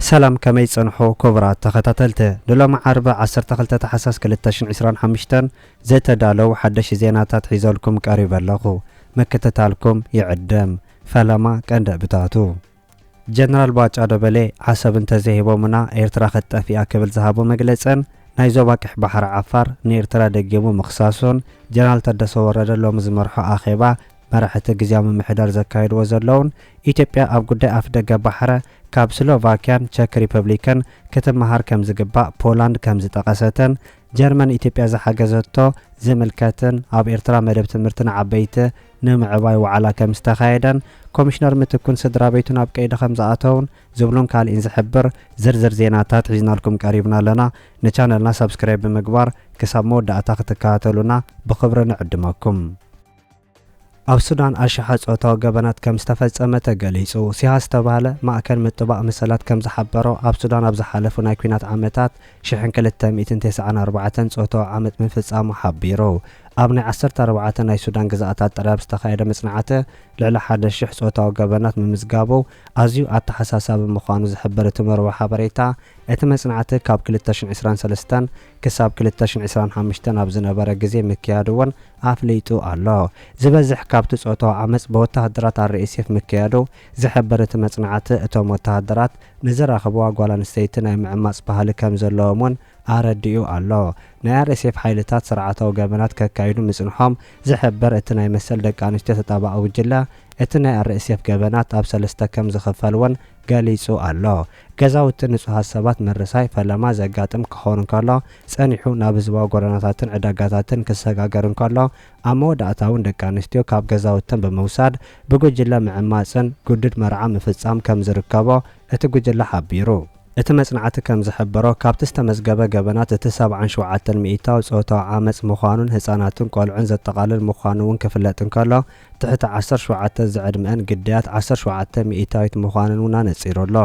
ሰላም ከመይ ጸንሑ ኩቡራት ተኸታተልቲ ንሎሚ ዓርቢ ዓሰርተ ክልተ ታሕሳስ ክልተ ሽሕን ዕስራን ሓምሽተን ዝተዳለው ሓደሽቲ ዜናታት ሒዘልኩም ቀሪበ ኣለኹ ምክትታልኩም ይዕደም ፈለማ ቀንዲ ዕብታቱ ጀነራል ባጫ ደበሌ፣ ዓሰብ እንተዘይሂቦሙና ኤርትራ ክትጠፍእ'ያ ክብል ዝሃቦ መግለጽን ናይ ዞባ ቀይሕ ባሕሪ ዓፋር ንኤርትራ ደጊሙ ምኽሳሱን፣ ጀነራል ታደሰ ወረደ ሎሚ ዝመርሖ ኣኼባ መራሕቲ ግዝያዊ ምምሕዳር ዘካይድዎ ዘለዉን ኢትዮጵያ ኣብ ጉዳይ ኣፍደገ ባሕረ ካብ ስሎቫክያን ቸክ ሪፐብሊክን ክትመሃር ከምዝግባእ ፖላንድ ከምዝጠቐሰትን ጀርመን ኢትዮጵያ ዝሓገዘቶ ዝምልከትን ኣብ ኤርትራ መደብ ትምህርቲ ንዓበይቲ ንምዕባይ ዋዕላ ከም ዝተኻየደን ኮሚሽነር ምትኩን ስድራቤቱን ኣብ ቀይዲ ከም ዝኣተውን ዝብሉን ካልእን ዝሕብር ዝርዝር ዜናታት ሒዝናልኩም ቀሪብና ኣለና። ንቻነልና ሳብስክራይብ ብምግባር ክሳብ መወዳእታ ክትከታተሉና ብኽብሪ ንዕድመኩም። ኣብ ሱዳን ኣሽሓት ጾታዊ ገበናት ከም ዝተፈጸመ ተገሊጹ። ሲሃ ዝተባህለ ማእከል ምጥባቕ መሰላት ከም ዝሓበሮ፣ ኣብ ሱዳን ኣብ ዝሓለፉ ናይ ኲናት ዓመታት ሽሕን ክልተ ሚእትን ተስዓን ኣርባዕተን ጾታዊ ዓመጽ ምፍጻሙ ሓቢሩ። ኣብ ናይ ዓሰርተ ኣርባዕተ ናይ ሱዳን ግዝኣታት ጥራይ ኣብ ዝተኻየደ መጽናዕቲ ልዕሊ ሓደ ሽሕ ጾታዊ ገበናት ምምዝጋቡ ኣዝዩ ኣተሓሳሳቢ ምዃኑ ዝሕብር እቲ መርበብ ሓበሬታ፣ እቲ መጽናዕቲ ካብ ክልተ ሽሕን ዕስራን ሰለስተን ክሳብ ክልተ ሽሕን ዕስራን ሓሙሽተን ኣብ ዝነበረ ግዜ ምክያዱ'ውን ኣፍሊጡ ኣሎ። ዝበዝሕ ካብቲ ጾታዊ ዓመጽ ብወተሃደራት ኣር-ኤስ-ኤፍ ምክያዱ ዝሕብር እቲ መጽናዕቲ፣ እቶም ወተሃደራት ንዝረኽብዋ ጓል ኣንስተይቲ ናይ ምዕማጽ ባህሊ ከም ዘለዎም'ውን ኣረዲኡ ኣሎ። ናይ ኣር-ኤስ-ኤፍ ሓይልታት ስርዓታዊ ገበናት ከካይዱ ምጽንሖም ዝሕብር እቲ ናይ መሰል ደቂ ኣንስትዮ ተጣባቒ ጉጅለ፣ እቲ ናይ ኣር-ኤስ-ኤፍ ገበናት ኣብ ሰለስተ ከም ዝኽፈል'ውን ገሊጹ ኣሎ። ገዛውቲ ንጹሃት ሰባት ምርሳይ ፈለማ ዘጋጥም ክኸውን እንከሎ፣ ጸኒሑ ናብ ህዝባዊ ጎደናታትን ዕዳጋታትን ክሰጋገር እንከሎ፣ ኣብ መወዳእታ'ውን ደቂ ኣንስትዮ ካብ ገዛውተን ብምውሳድ ብጉጅለ ምዕማጽን ግዱድ መርዓ ምፍጻም ከም ዝርከቦ እቲ ጉጅለ ሓቢሩ። እቲ መጽናዕቲ ከም ዝሕብሮ፣ ካብቲ ዝተመዝገበ ገበናት እቲ ሰብዓን ሸውዓተን ሚኢታዊ ጾታዊ ዓመጽ ምዃኑን ህጻናትን ቆልዑን ዘጠቓልል ምዃኑ'ውን ክፍለጥ እንከሎ፣ ትሕቲ ዓሰርተ ሸውዓተ ዝዕድመኣን ግዳያት ዓሰርተ ሸውዓተ ሚኢታዊት ምዃነን እውን ኣነጺሩ ኣሎ።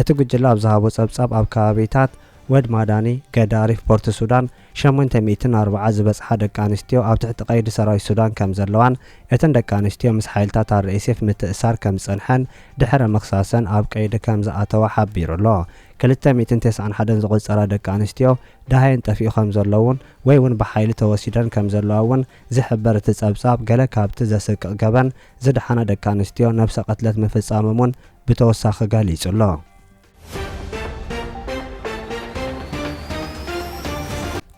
እቲ ጉጅለ ኣብ ዝሃቦ ጸብጻብ ኣብ ከባቢታት ወድ ማዳኒ፣ ገዳሪፍ፣ ፖርት ሱዳን ሸሞንተ ሚእትን ኣርብዓ ዝበጽሓ ደቂ ኣንስትዮ ኣብ ትሕቲ ቀይዲ ሰራዊት ሱዳን ከምዘለዋን እተን ደቂ ኣንስትዮ ምስ ሓይልታት ኣርኤስኤፍ ምትእስሳር ከምዝጸንሐን ድሕረ ምኽሳሰን ኣብ ቀይዲ ከምዝኣተዋ ሓቢሩ ኣሎ። ክልተ ሚእትን ተስዓን ሓደን ዝቑጸራ ደቂ ኣንስትዮ ደሃየን ጠፊኡ ከምዘሎ እውን ወይ እውን ብሓይሊ ተወሲደን ከምዘለዋ እውን ዝሕብር እቲ ጸብጻብ፣ ገለ ካብቲ ዘስቅቕ ገበን ዝደሓና ደቂ ኣንስትዮ ነብሰ ቅትለት ምፍጻሞም እውን ብተወሳኺ ገሊጹ ኣሎ።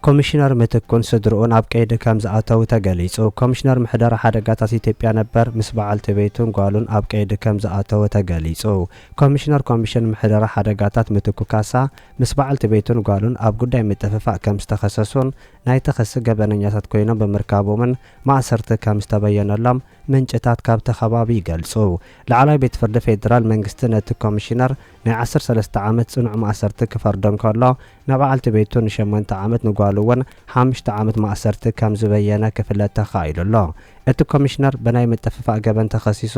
ኮሚሽነር ምትኩን ስድርኡን ኣብ ቀይዲ ከም ዝኣተዉ ተገሊጹ። ኮሚሽነር ምሕደራ ሓደጋታት ኢትዮጵያ ነበር ምስ በዓልቲ ቤቱን ጓሉን ኣብ ቀይዲ ከም ዝኣተወ ተገሊጹ። ኮሚሽነር ኮሚሽን ምሕደራ ሓደጋታት ምትኩ ካሳ ምስ በዓልቲ ቤቱን ጓሉን ኣብ ጉዳይ ምጥፍፋእ ከም ዝተኸሰሱን ናይ ተኸሲ ገበነኛታት ኮይኖም ብምርካቦምን ማእሰርቲ ከም ዝተበየነሎም ምንጭታት ካብቲ ከባቢ ይገልጹ። ላዕለዋይ ቤት ፍርዲ ፌደራል መንግስቲ ነቲ ኮሚሽነር ናይ ዓሰርተ ሰለስተ ዓመት ጽኑዕ ማእሰርቲ ክፈርዶ እንከሎ፣ ንበዓልቲ ቤቱ ንሸሞንተ ዓመት ንጓሉ እውን ሓሙሽተ ዓመት ማእሰርቲ ከም ዝበየነ ክፍለጥ ተኻኢሉ ኣሎ። እቲ ኮሚሽነር ብናይ ምጥፍፋእ ገበን ተኸሲሱ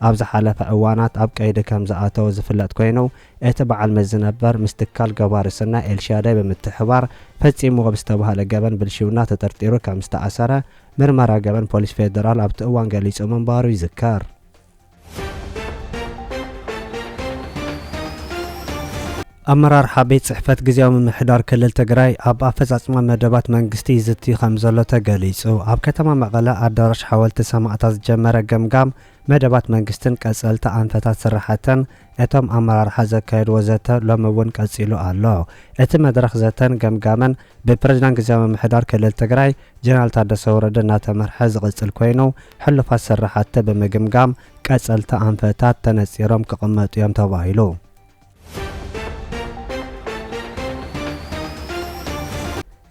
ኣብ ዝሓለፈ እዋናት ኣብ ቀይዲ ከም ዝኣተወ ዝፍለጥ ኮይኑ፣ እቲ በዓል መዚ ነበር ምስ ትካል ገባሪ ሰናይ ኤልሻዳይ ብምትሕብባር ፈፂምዎ ብዝተብሃለ ገበን ብልሽውና ተጠርጢሩ ከም ዝተኣሰረ ምርመራ ገበን ፖሊስ ፌዴራል ኣብቲ እዋን ገሊፁ ምንባሩ ይዝከር። ኣመራርሓ ቤት ፅሕፈት ግዝያዊ ምምሕዳር ክልል ትግራይ ኣብ ኣፈፃፅማ መደባት መንግስቲ ይዝቲ ከም ዘሎ ተገሊፁ። ኣብ ከተማ መቐለ ኣዳራሽ ሓወልቲ ሰማእታት ዝጀመረ ገምጋም መደባት መንግስትን ቀፀልቲ ኣንፈታት ስራሕተን እቶም ኣመራርሓ ዘካየድዎ ዘተ ሎሚ እውን ቀፂሉ ኣሎ። እቲ መድረኽ ዘተን ገምጋምን ብፕረዚዳንት ግዝያዊ ምምሕዳር ክልል ትግራይ ጀነራል ታደሰ ወረደ እናተመርሐ ዝቕፅል ኮይኑ ሕሉፋት ስራሕቲ ብምግምጋም ቀፀልቲ ኣንፈታት ተነፂሮም ክቕመጡ ኢዮም ተባሂሉ።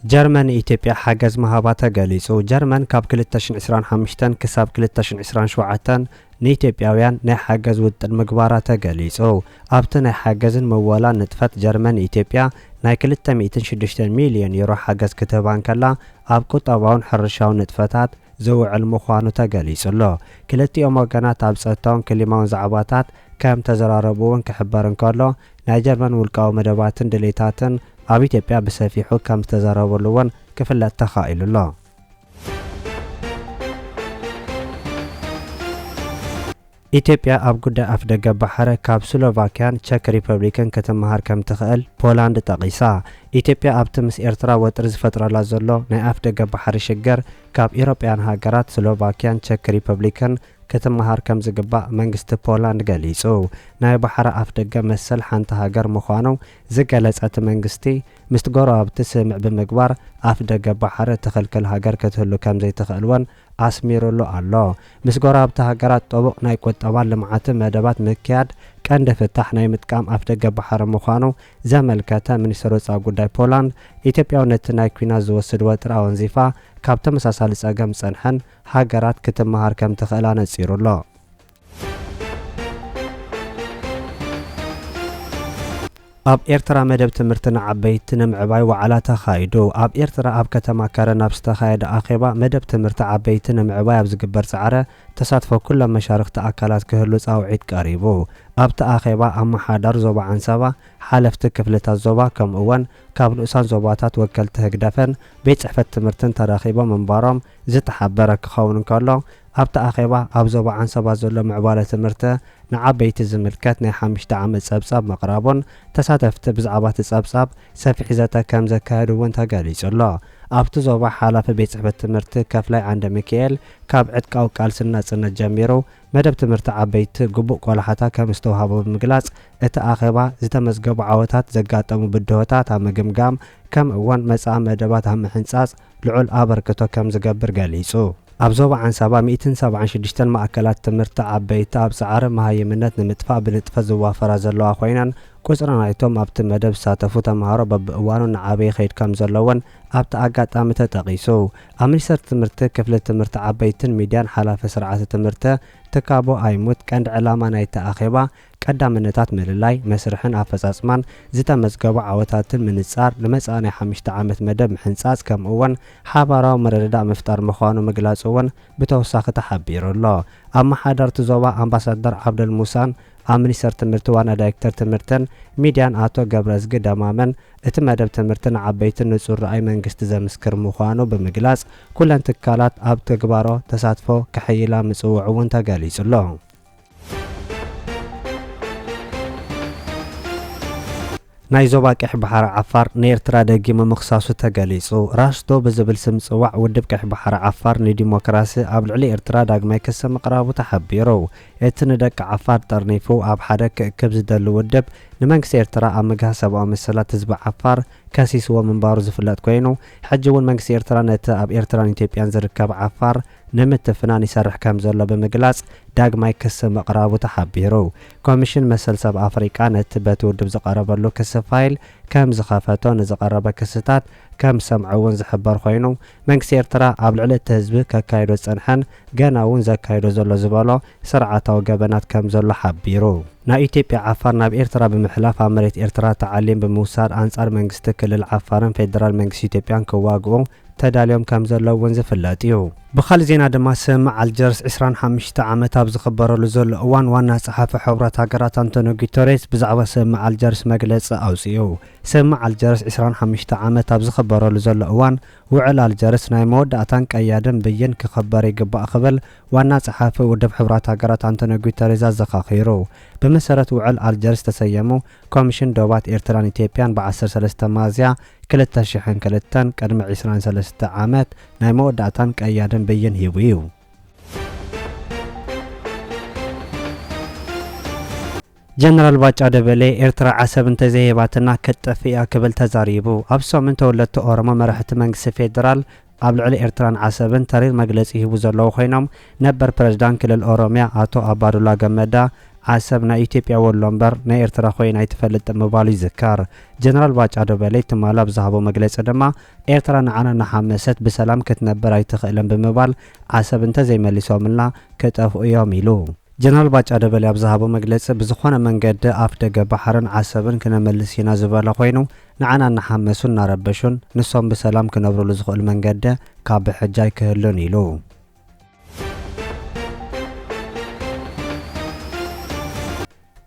ጀርመን ንኢትዮጵያ ሓገዝ ምሃባ ተገሊፁ። ጀርመን ካብ ክልተ ሽሕን ዕስራን ሓሙሽተን ክሳብ ክልተ ሽሕን ዕስራን ሸውዓተን ንኢትዮጵያውያን ናይ ሓገዝ ውጥን ምግባራ ተገሊጹ። ኣብቲ ናይ ሓገዝን ምወላን ንጥፈት ጀርመን ንኢትዮጵያ ናይ ክልተ ሚእትን ሽዱሽተን ሚልዮን ዩሮ ሓገዝ ክትህባ እንከላ ኣብ ቁጠባውን ሕርሻውን ንጥፈታት ዝውዕል ምዃኑ ተገሊጹ'ሎ። ክልቲኦም ወገናት ኣብ ጸጥታውን ክሊማውን ዛዕባታት ከም ተዘራረቡ'ውን ክሕበር እንከሎ ናይ ጀርመን ውልቃዊ መደባትን ድሌታትን ኣብ ኢትዮጵያ ብሰፊሑ ከም ዝተዘረበሉ'ውን ክፍለጥ ተኻኢሉ'ሎ። ኢትዮጵያ ኣብ ጉዳይ ኣፍደገ ባሕረ ካብ ስሎቫክያን ቸክ ሪፐብሊክን ክትመሃር ከምትኽእል ፖላንድ ጠቒሳ። ኢትዮጵያ ኣብቲ ምስ ኤርትራ ወጥሪ ዝፈጥረላ ዘሎ ናይ ኣፍደገ ባሕሪ ሽግር ካብ ኢሮጳያን ሃገራት ስሎቫክያን ቸክ ሪፐብሊክን ክትመሃር ከምዝግባእ መንግስቲ ፖላንድ ገሊጹ። ናይ ባሕረ ኣፍደገ መሰል ሓንቲ ሃገር ምዃኑ ዝገለጸ እቲ መንግስቲ፣ ምስቲ ጎረባብቲ ስምምዕ ብምግባር ኣፍ ደገ ባሕሪ እትኽልክል ሃገር ክትህሉ ከምዘይትኽእል እውን ኣስሚሩሉ ኣሎ። ምስ ጎረባብቲ ሃገራት ጥቡቕ ናይ ቁጠባን ልምዓትን መደባት ምክያድ ቀንዲ ፍታሕ ናይ ምጥቃም ኣፍ ደገ ባሕሪ ምዃኑ ዘመልከተ ሚኒስተር ወጻኢ ጉዳይ ፖላንድ፣ ኢትዮጵያ'ውን ነቲ ናይ ኲናት ዝወስድ ወጥሪ ኣወንዚፋ ካብ ተመሳሳሊ ጸገም ዝጸንሐን ሃገራት ክትመሃር ከምትኽእል ኣነጺሩ'ሎ። ኣብ ኤርትራ መደብ ትምህርቲ ንዓበይቲ ንምዕባይ ዋዕላ ተኻይዱ። ኣብ ኤርትራ ኣብ ከተማ ከረን ኣብ ዝተኻየደ ኣኼባ፣ መደብ ትምህርቲ ዓበይቲ ንምዕባይ ኣብ ዝግበር ጻዕረ ተሳትፎ ኩሎም መሻርኽቲ ኣካላት ክህሉ ጻውዒት ቀሪቡ። ኣብቲ ኣኼባ፣ ኣመሓዳር ዞባ ዓንሰባ፣ ሓለፍቲ ክፍልታት ዞባ ከምኡ'ወን ካብ ንኡሳን ዞባታት ወከልቲ ህግደፍን ቤት ጽሕፈት ትምህርትን ተረኺቦም ምንባሮም ዝተሓበረ ክኸውን እንከሎ፣ ኣብቲ ኣኼባ ኣብ ዞባ ዓንሰባ ዘሎ ምዕባለ ትምህርቲ ንዓበይቲ ዝምልከት ናይ ሓምሽተ ዓመት ጸብጻብ ምቕራቡን ተሳተፍቲ ብዛዕባ እቲ ጸብጻብ ሰፊሕ ዘተ ከም ዘካየዱ እውን ተገሊጹ ኣሎ። ኣብቲ ዞባ ሓላፊ ቤት ጽሕፈት ትምህርቲ ከፍላይ ዓንደሚኪኤል ካብ ዕጥቃዊ ቃልሲ ንናጽነት ጀሚሩ መደብ ትምህርቲ ዓበይቲ ግቡእ ቆላሕታ ከም ዝተውሃቦ ብምግላጽ እቲ ኣኼባ ዝተመዝገቡ ዓወታት፣ ዘጋጠሙ ብድሆታት ኣብ ምግምጋም ከምእውን መጻኢ መደባት ኣብ ምሕንጻጽ ልዑል ኣበርክቶ ከም ዝገብር ገሊጹ። ኣብ ዞባ ዓንሳባ ሚእትን ሰብዓን ሽዱሽተን ማእከላት ትምህርቲ ዓበይቲ ኣብ ጻዕሪ መሃይምነት ንምጥፋእ ብንጥፈት ዝዋፈራ ዘለዋ ኮይነን፣ ቁጽሪ ናይቶም ኣብቲ መደብ ዝሳተፉ ተመሃሮ በብእዋኑ እናዓበየ ይኸይድ ከም ዘሎ'ውን ኣብቲ ኣጋጣሚ ተጠቒሱ። ኣብ ሚኒስተር ትምህርቲ ክፍሊ ትምህርቲ ዓበይትን ሚድያን ሓላፊ ስርዓተ ትምህርቲ ትካቦ ኣይሙት ቀንዲ ዕላማ ናይቲ ኣኼባ ቀዳምነታት ምልላይ፣ መስርሕን ኣፈፃፅማን፣ ዝተመዝገቡ ዓወታትን ምንፃር፣ ንመፃኢ ናይ ሓምሽተ ዓመት መደብ ምሕንፃፅ ከምኡ እውን ሓባራዊ ምርድዳእ ምፍጣር ምዃኑ ምግላፁ እውን ብተወሳኺ ተሓቢሩ ኣሎ። ኣመሓደርቲ ዞባ ኣምባሳደር ዓብደል ሙሳን ኣብ ሚኒስቴር ትምህርቲ ዋና ዳይሬክተር ትምህርትን ሚዲያን ኣቶ ገብረዝጊ ደማመን እቲ መደብ ትምህርቲ ንዓበይቲ ንፁር ራእይ መንግስቲ ዘምስክር ምዃኑ ብምግላፅ ኩለን ትካላት ኣብ ትግባሮ ተሳትፎ ከሐይላ ምፅውዑ እውን ተገሊፁ ኣሎ። ናይ ዞባ ቀይሕ ባሕሪ ዓፋር ንኤርትራ ደጊሙ ምኽሳሱ ተገሊጹ። ራስዶ ብዝብል ስም ዝጽዋዕ ውድብ ቀይሕ ባሕሪ ዓፋር ንዲሞክራሲ ኣብ ልዕሊ ኤርትራ ዳግማይ ክሲ ምቕራቡ ተሓቢሩ። እቲ ንደቂ ዓፋር ጠርኒፉ ኣብ ሓደ ክእክብ ዝደሊ ውድብ፣ ንመንግስቲ ኤርትራ ኣብ ምግሃስ ሰብኣዊ መሰላት ህዝቢ ዓፋር ከሲስዎ ምንባሩ ዝፍለጥ ኮይኑ፣ ሕጂ'ውን መንግስቲ ኤርትራ ነቲ ኣብ ኤርትራን ኢትዮጵያን ዝርከብ ዓፋር ንምትፍናን ይሰርሕ ከምዘሎ ብምግላፅ ዳግማይ ክሲ ምቕራቡ ተሓቢሩ። ኮሚሽን መሰል ሰብ ኣፍሪቃ ነቲ በቲ ውድብ ዝቐረበሉ ክሲ ፋይል ከምዝኸፈቶ ንዝቐረበ ክስታት ከምዝሰምዐ እውን ዝሕበር ኮይኑ መንግስቲ ኤርትራ ኣብ ልዕሊ እቲ ህዝቢ ከካይዶ ዝፀንሐን ገና እውን ዘካይዶ ዘሎ ዝበሎ ስርዓታዊ ገበናት ከምዘሎ ሓቢሩ። ናይ ኢትዮጵያ ዓፋር ናብ ኤርትራ ብምሕላፍ ኣብ መሬት ኤርትራ ታዕሊም ብምውሳድ ኣንፃር መንግስቲ ክልል ዓፋርን ፌደራል መንግስቲ ኢትዮጵያን ክዋግኡ ተዳልዮም ከም ዘለዉ እውን ዝፍለጥ እዩ። ብኻልእ ዜና ድማ ስምምዕ ኣልጀርስ ዕስራን ሓሙሽተ ዓመት ኣብ ዝኽበረሉ ዘሎ እዋን ዋና ጸሓፊ ሕቡራት ሃገራት ኣንቶንዮ ጉተሬዝ ብዛዕባ ስምምዕ ኣልጀርስ መግለጺ ኣውጺኡ። ስምምዕ ኣልጀርስ ዕስራን ሓሙሽተ ዓመት ኣብ ዝኽበረሉ ዘሎ እዋን ውዕል ኣልጀርስ ናይ መወዳእታን ቀያድን ብይን ክኽበር ይግባእ ክብል ዋና ጸሓፊ ውድብ ሕቡራት ሃገራት ኣንቶንዮ ጉተሬዝ ኣዘኻኺሩ። ብመሰረት ውዕል ኣልጀርስ ዝተሰየሙ ኮሚሽን ዶባት ኤርትራን ኢትዮጵያን ብ ዓሰርተ ሰለስተ ሚያዝያ ክልተ ሽሕን ክልተን ቅድሚ ዕስራን ሰለስተ ዓመት ናይ መወዳእታን ቀያድን ብይን ሂቡ እዩ። ጀነራል ባጫ ደበሌ ኤርትራ ዓሰብ እንተዘይሂባትና ክትጠፍእ እያ ክብል ተዛሪቡ። ኣብ ሰሙን ተወለድቲ ኦሮሞ መራሕቲ መንግስቲ ፌደራል ኣብ ልዕሊ ኤርትራን ዓሰብን ተሪር መግለጺ ይህቡ ዘለዉ ኮይኖም፣ ነበር ፕረዚዳን ክልል ኦሮምያ ኣቶ ኣባዱላ ገመዳ፣ ዓሰብ ናይ ኢትዮጵያ ወሎ እምበር ናይ ኤርትራ ኮይና ኣይትፈልጥን ምባሉ ይዝከር። ጀነራል ባጫ ደበሌ ትማል ኣብ ዝሃቦ መግለጺ ድማ፣ ኤርትራ ንዓና እናሓመሰት ብሰላም ክትነብር ኣይትኽእልን ብምባል፣ ዓሰብ እንተዘይመሊሶምልና ክጠፍኡ እዮም ኢሉ። ጀነራል ባጫ ደበሌ ኣብ ዝሃቦ መግለጺ፣ ብዝኾነ መንገዲ ኣፍደገ ባሕርን ዓሰብን ክነመልስ ኢና ዝበለ ኮይኑ፣ ንዓና እናሓመሱን እናረበሹን ንሶም ብሰላም ክነብሩሉ ዝኽእሉ መንገዲ ካብ ብሕጂ ኣይክህሉን ኢሉ።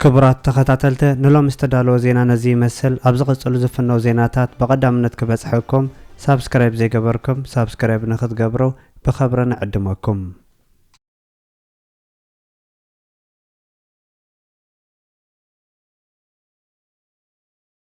ክቡራት ተኸታተልቲ ንሎሚ ዝተዳለወ ዜና ነዚ ይመስል። ኣብ ዝቕጽሉ ዝፍነው ዜናታት ብቐዳምነት ክበጽሐኩም ሳብስክራይብ ዘይገበርኩም ሳብስክራይብ ንክትገብሩ ብኸብሪ ንዕድመኩም።